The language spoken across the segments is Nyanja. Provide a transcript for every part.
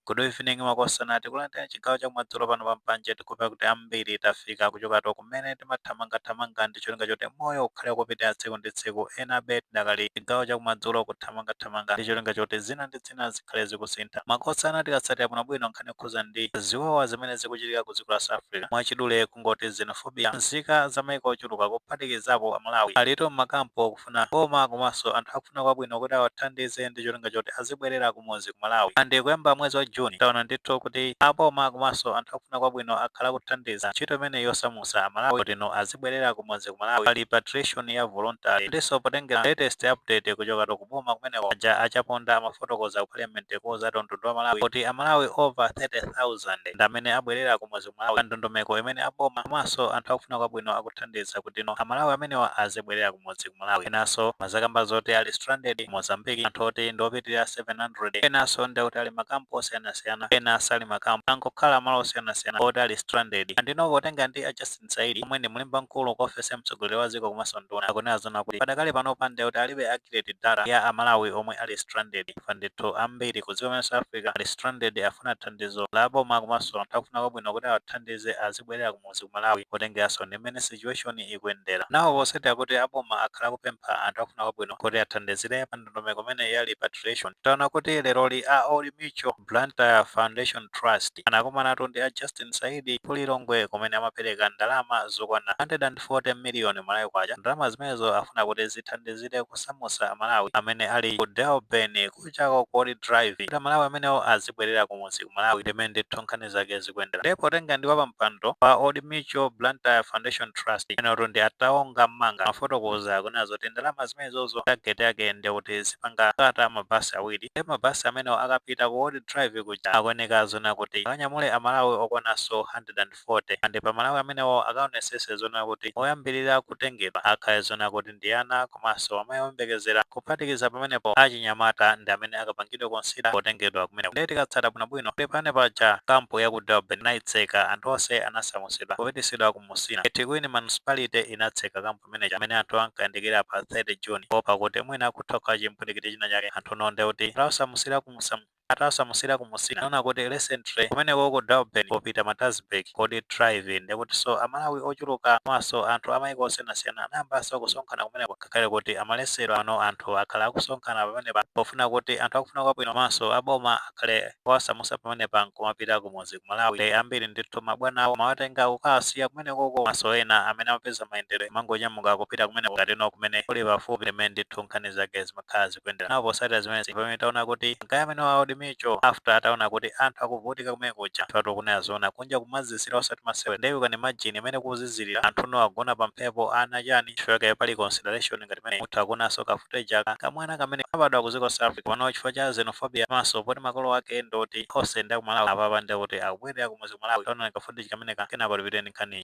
Good evening makosana tikulandirani chigawo chakumadzulo pano pa mpanje tikupa kuti ambiri tafika kuchokatu kumene timathamangathamanga ndi cholinga choti moyo ukhale ukupitira tsiku ndi tsiku enabe tidakali chigawo chakumadzulo kuthamangathamanga ndi cholinga choti zina ndi zina zikhale zikusintha makosana tikatsatira bwinobwino nkhani yokhuza ndi ziwawa zimene zikuchitika ku dziko la south africa mwachidule kungoti xenophobia nzika za maiko ochuluka kuphatikizapo amalawi alitu m'makampu akufuna boma komanso anthu akufuna kwabwino kuti awathandize ndi cholinga choti azibwerera kumudzi ku Malawi and kuyamba mwezi wa June taona ndithu kuti a boma komanso anthu akufuna kwabwino akhala akuthandiza ntchito imeneyi yosamutsa a Malawi kuti no azibwerera kumudzi ku Malawi pa repatriation ya voluntary ndinso potengera latest update kuchokatu ku boma kumeneko aja a Chaponda amafotokoza ku parliament kuuzatu mtundu wa Malawi kuti a Malawi over 30,000 ndi amene abwerera kumudzi Malawi pa ndondomeko imene a boma komanso anthu akufuna kwabwino akuthandiza kutino a Malawi amenewa azibwerera kumudzi ku Malawi. Enanso amazakamba zoti ali stranded ku Mozambique anthu oti ndi opitirira 700. Enanso ndi kuti ali m'makampu osiyanasiyana, ena sali m'makampu. Angokhala malo osiyanasiyana oti ali stranded. Andino potenga ndi a Justin Saidi omwe ndi mlembi mkulu ku ofesi ya mtsogoleri wa dziko komanso nduna akunena zonena kuti padakali panopa ndi kuti alibe accurate data ya a Malawi omwe ali stranded. chifukwa ndithu ambiri ku dziko limene South Africa ali stranded afuna thandizo la boma komanso anthu akufuna kwabwino kuti awathandize azibwerera kumudzi ku Malawi potengeraso ndi mmene situation ikuyendera now potsatira kuti aboma akhala akupempha anthu akufuna kwabwino kuti athandizire pa ndondomeko imeneyi ya repatriation taona kuti leroli a Old Mutual Blantyre Foundation Trust anakumanatu ndi a Justin Saidi ku Lilongwe kumene amapereka ndalama zokwana 100. 40 million Malawi kwacha ndalama zimenezo afuna kuti zithandizire kusamusa amalawi amene ali ku Durban kuchako ku old drive kuti amalawi amenewo azibwerera kumudzi ku malawi ndimene ndithu nkhani zake zikuyendera nde potenga ndi wapampando wa old mutual blantyre foundation trust amenewotu ndi a taonga mmanga amafotokoza akunena zoti ndalama zimenezozo target yake ndiyekuti zipanga cater mabasi awiri nde mabasi amenewo akapita ku old drive kuja akuyeneka zonena kuti akanyamule amalawi okwananso 100 40 and pa Malawi amenewo akaonesese zonena kuti oyambilira kutengedwa akhale zonena kuti ndi ana komanso amayi oyembekezera kuphatikiza pamenepo achinyamata ndi amene akapangidwe consider potengedwa kumeneko nde tikatsata bwinobwino kuti pano paja camp ya ku Durban anaitseka anthu onse anasamusidwa kupitisidwa ku Musina eThekwini municipality inatseka camp imeneja pamene anthu ankayandikira pa 30 June poopa kuti mwina kutha kukhala chimpwirikiti china chake anthuno ndekuti atawasamusira ku Musina atawasamusira ku musina anaona kuti recently kumeneko ku durban popita Maritzburg ku old drive ndekutinso amalawi ochuluka komanso anthu amaiko osiyanasiyana anayambanso kusonkhana kumeneko ngakhale kuti amaletsedwa pano anthu akhala akusonkhana pamenepa pofuna kuti anthu akufuna kwabwino komanso aboma akhale owasamusa pamenepa nkumapita kumudzi ku malawi ndi ambiri ndithu mabwana awo amawatenga kukawasiya kumenekoko komanso ena amene amapeza mayendedwe amangonyamuka kupita kumeneko ngatino kumene kuli pafupi ndimene ndithu nkhani zake zima zokha zikuyendera nawo posatira zimenezi pamene taona kuti ma guy amene wa Old Mutual after ataona kuti anthu akuvutika kumene kuja anthu ati ukunena zoona kunja kumazizira osati masewera ndiye you can imagine imene kuzizirira anthu no agona pa mphepo ana chani chifukwa kaye pali consideration ngati imene muthu akunanso ka footage aka kamwana kamene kanabadwa ku dziko la South Africa pano chifukwa cha xenophobia komanso poti makolo ake ndoti onse ndi akumalawi apapa ndiye kuti akubwerera ku muzi kumalawi taonani ka footage kameneka kenako tipite ndi nkhaniyi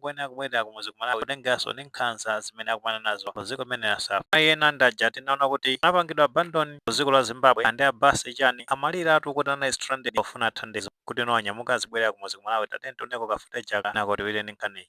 Ena akubwelera kumuzi ku Malawi kutengeranso ndi nkhanza zimene akumana nazo ku dziko limene la South Africa. Ena ndi aja tinaona kuti anapangidwa abandon ku dziko la Zimbabwe ndi a bus chani amaliratu kuti ali stranded pofuna thandizo kuti no anyamuka azibwelera kumuzi ku Malawi tatiyeni tioneko ka footage aka kenako tibwere ndi nkhaniyi.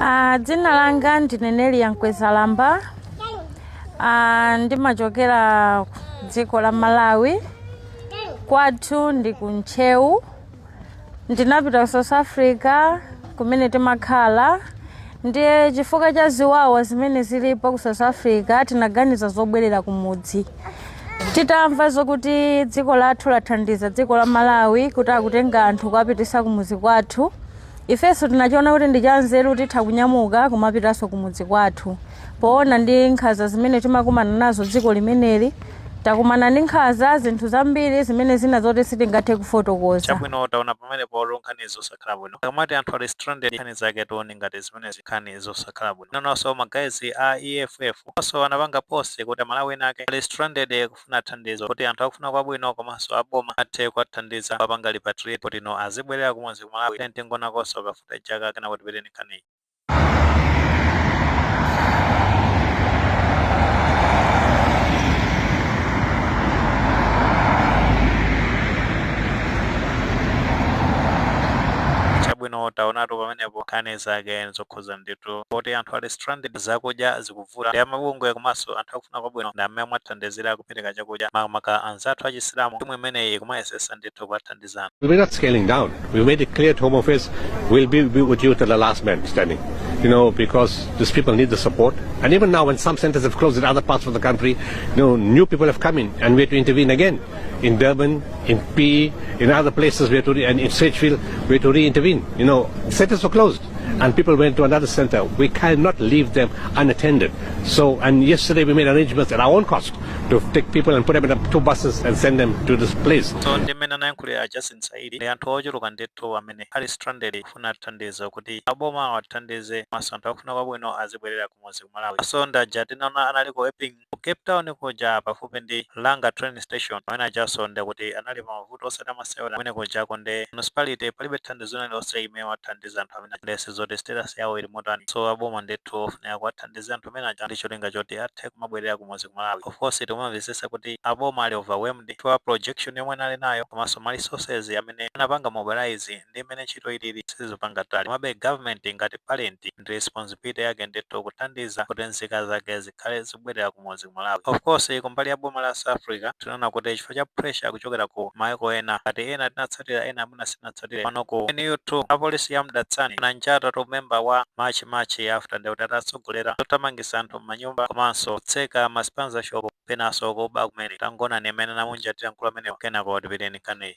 Uh, dzina langa ndine Nelia Mkwezalamba uh, ndimachokera dziko la Malawi kwathu ndi ku Ntcheu ndinapita ku South Africa kumene timakhala ndiye chifukwa cha ziwawa zimene zilipo ku South Africa tinaganiza zobwerera kumudzi titamva zokuti dziko lathu lathandiza dziko la malawi kuti akutenga anthu kuwapitisa kumudzi kwathu ifenso tinachiona kuti ndi chanzeru titha kunyamuka kumapitanso kumudzi kwathu poona ndi nkhanza zimene timakumana nazo dziko limeneli takumana ndi nkhanza zinthu zambiri zimene zina zoti sitingathe kufotokoza chabwino taona pamenepo nkhani zosakhala bwino akamati anthu ali stranded nkhani zake tione ngati zimenezi nkhani zosakhala bwino Nanonso ma guys a EFF also anapanga post kuti amalawi ena ake ali stranded kufuna thandizo kuti anthu akufuna kwabwino komanso a boma athe kuwathandiza kuwapanga repatriate kuti no azibwerera kumudzi ku Malawi then tingonakonso ka footage aka kenako tipite ndi nkhaniyi. Chabwino taonatu pamenepo nkhani zake nzokhuza zovuza ndithu poti anthu ali stranded zakudya zikuvuta ndiye amabungwe komanso anthu akufuna kwabwino ndi amene amawathandizira kupereka chakudya makamaka anzathu achisilamu timu imeneyi ikumayesesa ndithu kuwathandizana We're not scaling down. We made it clear to Home Affairs we'll be, be with you till the last man standing. You know, because these people need the support. And even now, when some centers have closed in other parts of the country, you know, new people have come in, and we had to intervene again in Durban, in P, in other places, we had to re- and in Sedgefield, we had to re-intervene. You know, centers were closed. and people went to another center. We cannot leave them unattended. So, and yesterday we made arrangements at our own cost to take people and put them in two buses and send them to this place. So, ndi mmene anayankhulira a Justin Saidi ndi anthu ochuluka ndithu amene ali stranded kufuna thandizo kuti aboma awathandize komanso anthu akufuna kwabwino azibwerera kumudzi ku Malawi. So, ndaja tinaona analiko Epping Ku Cape Town kuja pafupi ndi Langa train station amene ajanso nde kuti anali pa mavuto osati amasewera kumene kujako nde municipality palibe thandizo lina lilonse imene iwathandiza anthu amene aja nde sizoti status yawo ili motani so aboma ndithu ofunika kuwathandiza anthu amene aja ndi cholinga choti athe kumabwerera kumudzi ku Malawi of course tikumamvetsetsa kuti aboma ali overwhelmed chifukwa projection yomwe anali nayo komanso ma resources amene anapanga mobilize ndi mmene ntchito ilili sizipanga tally komabe government ngati parent ndi responsibility yake ndithu kuthandiza kuti nzika zake zi zikhale zibwerera kumudzi ku Malawi. Of course kumbali ya boma la South Africa tinaona kuti chifukwa cha pressure kuchokera ku maiko ena ngati ena tinatsatira ena mwina sitinatsatire. Pano ku NU2 apolisi ya Mdantsane ananjata top member wa March and March after nde kuti atatsogolera zothamangitsa anthu m'manyumba komanso kutseka ma spaza shop penanso kuba kumene. Tangoonani mmene anamunjatira mkulu ameneyu kenako tipitirire ndi nkhaniyi.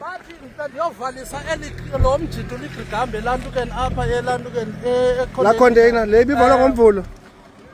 Bathi ndiyovanisa eli lo mjito ligqigamba elantukeni apha elantukeni la container le ibivalwa ngomvulo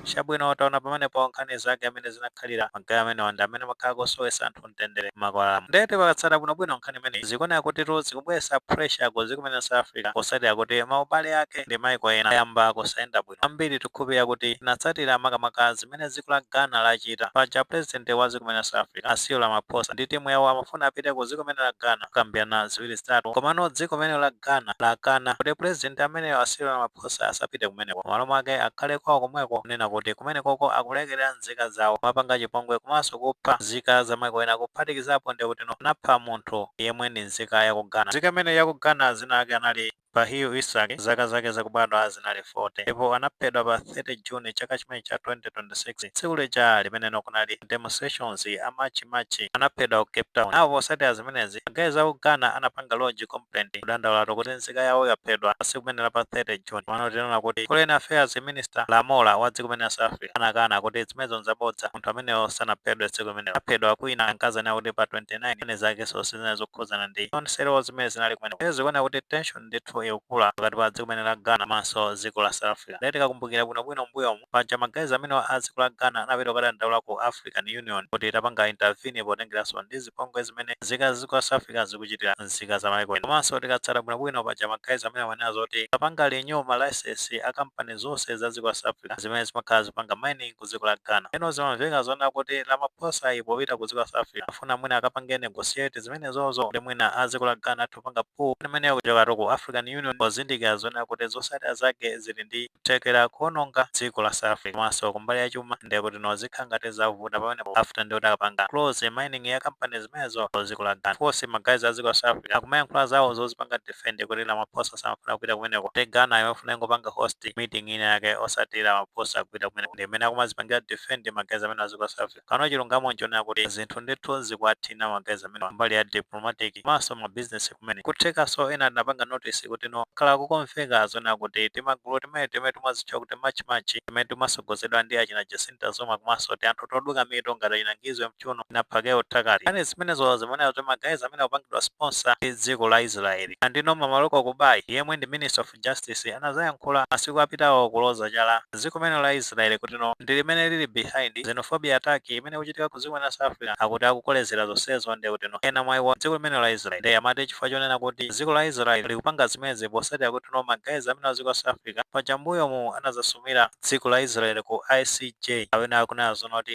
chabwino mwaona pamenepo nkhani zake amene zinakhalira ma guys amenewa ndi amene amakhala akusowetsa anthu mtendere m'makwalamo nde tikatsata bwinobwino nkhani imeneyi zikuoneka kuti tu zikubweretsa pressure ku dziko limene la south africa potsatira kuti maubale ake ndi maiko ena ayamba kusayenda bwino bwino ambiri tikhulupirira kuti tinatsatira makamaka zimene dziko la Ghana lachita paja president wa dziko limene la South Africa a Cyril Ramaphosa ndi team yawo amafuna apite ku dziko limene la Ghana kukambirana ziwiri zitatu komano dziko limene la Ghana lakana kuti president ameneyo a Cyril Ramaphosa asapite kumeneko m'malo mwake akhale kwawo komweko kunena kuti kumenekoko akulekerera nzika zawo kumapanga chipongwe komanso kupha nzika za maiko ena kuphatikizapo ndi kutino anapha munthu yemwe ndi nzika ya ku Ghana nzika imeneyi ya ku Ghana dzina lake anali Bashiru Isak zaka zake zakubadwa zinali 40 ndipo anaphedwa pa 30 June chaka chimenechi cha 2026. Tsiku lija limene lino kunali ma demonstrations a March and March anaphedwa ku Cape Town. Nawo potsatira zimenezi ma guys aku Ghana anapanga lodge complaint kudandaulatu kuti nzika yawo yaphedwa pa tsiku limeneli la pa 30 June komano tinaona kuti foreign affairs minister Lamola wa dziko limeneli la South Africa anakana kuti zimenezo nzabodza. munthu ameneyo sanaphedwe tsiku limenelo aphedwa kwina akuti anena kuti pa 29 and zake zonse zinali zokhudzana ndi umbava wawo zimene zinali kumeneko ndiye zikuoneka kuti tension ndithu ikukula pakati pa dziko limene la ghana komanso dziko la south africa ndiye tikakumbukira bwinobwino mbuyomu paja ma guys amenewa a dziko la ghana anapita kukadandaula ku african union kuti itapanga intervene potengeranso ndi zipongwe zimene nzika za dziko la south africa zikuchitira nzika za maiko ena komanso tikatsata bwinobwino paja ma guys amene amanena zoti sapanga renew ma license a kampani zonse za dziko la south africa zimene zimakhala zipanga mining ku dziko la Ghana. Eno zimamveka zonena kuti Ramaphosayi popita ku dziko la South Africa afuna mwina akapange negotiate zimenezozo kuti mwina a dziko la Ghana athe kupanga pull nkhani imeneyo kuchokatu ku African Union pozindikira zonena kuti zotsatira zake zili ndi kuthekera kuononga dziko la South Africa komanso kumbali ya chuma ndiye kutino zikhala ngati zavuta pamenepo after ndiye kuti akapanga close mining ya kampani zimenezo ku dziko la Ghana. Of course ma guys a dziko la South Africa akumayankhula zawo zozipanga defend kuti Ramaphosa samafuna kupita kumeneko te Ghana imafuna ingopanga host meeting ina yake osati Ramaphosa kupita kumeneko ndi mmene akumazipangira defend magayizi amene a dziko la South Africa kano chilungamo nchonena kuti zinthu ndithu zikuwathina magayizi amene mbali ya diplomatic komanso ma business kumene kuthekanso ena tinapanga notice kuti no khala kukomveka zonena kuti timagulu timene timene timazitcha kuti march march timene timasogozedwa ndi achina Jacinta Zuma komanso tianthu toduka mitu ngati achina Ngizwe Mchunu ina Phakel'umthakathi yani zimenezo zimanena zoti magayizi amene akupangidwa sponsor ndi dziko la israeli andino Mmamoloko Kubayi yemwe ndi minister of justice anazayankhula masiku apitawo kuloza chala dziko limene la israeli kutino ndi limene lili behind xenophobia attack imene ikuchitika ku dziko limene la south africa akuti akukolezera zonsezo ndi kutino ena mwa iwo dziko limene la israeli nde amati chifukwa chonena kuti dziko la israeli likupanga zimenezi posatira kutino magayizi amene a dziko la south africa paja mbuyomu anazasumira dziko la israeli ku icj amene akunena zonoti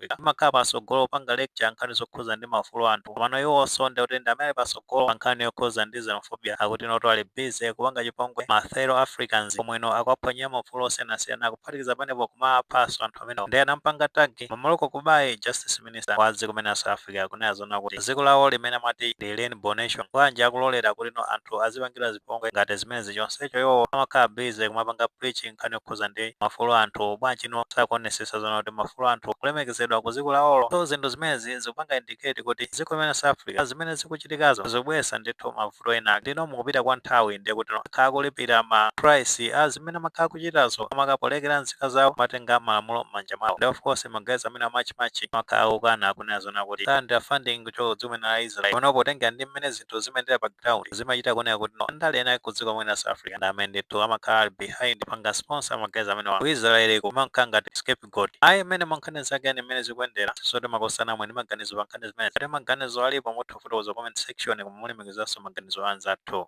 Africa imakhala pasogolo kupanga lecture nkhani zokhuza ndi maufulu a anthu komano iwonso nde kuti ndi amene pasogolo pa nkhani yokhuza ndi xenophobia akuti noto ali busy kupanga chipongwe ma fellow Africans komweno akuwaphwanyira maufulu osiyanasiyana kuphatikiza panepo kumawaphaso anthu amenewo nde anampanga tag Mmamoloko Kubayi justice minister wa dziko limene la South Africa kunena zona kuti dziko lawo limene amati ndi rainbow nation bwanji akulolera kuti no anthu azipangidwa zipongwe ngati zimenezi chonsecho iwowo amakhala busy kumapanga preaching nkhani yokhuza ndi maufulu a anthu bwanji no sakuonesesa zona kuti maufulu a anthu akulemekezedwa ku dziko lawolo so zinthu zimenezi zikupanga indicate kuti dziko limene la south africa zimene zikuchitikazo zikubweresa ndithu mavuto ena ndino mukupita kwa nthawi ndiye kuti akhala akulipira ma price a zimene amakhala akuchitazo amangolekera nzika zawo kumatenga malamulo mmanja mwawo nde of course magayizi amene a march march amakhala akukana kunena zona kuti ndi funding kuchoka dziko limene la israel panopo potengera ndi mmene zinthu zinthu zimayendera pa ground zimachita kuoneka kuti no andale ena ku dziko limene la South Africa ndi amene ndithu amakhala ali behind kupanga sponsor magayizi amenewa Israel kumakhala ngati scapegoat ayi mmene mankhani zake ndi mmene zikuyendera sote makosana inu mwe ndi maganizo pa nkhani zimene ngati maganizo alipo mutha kufotokoza comment section koma mulemekezanso maganizo a anzathu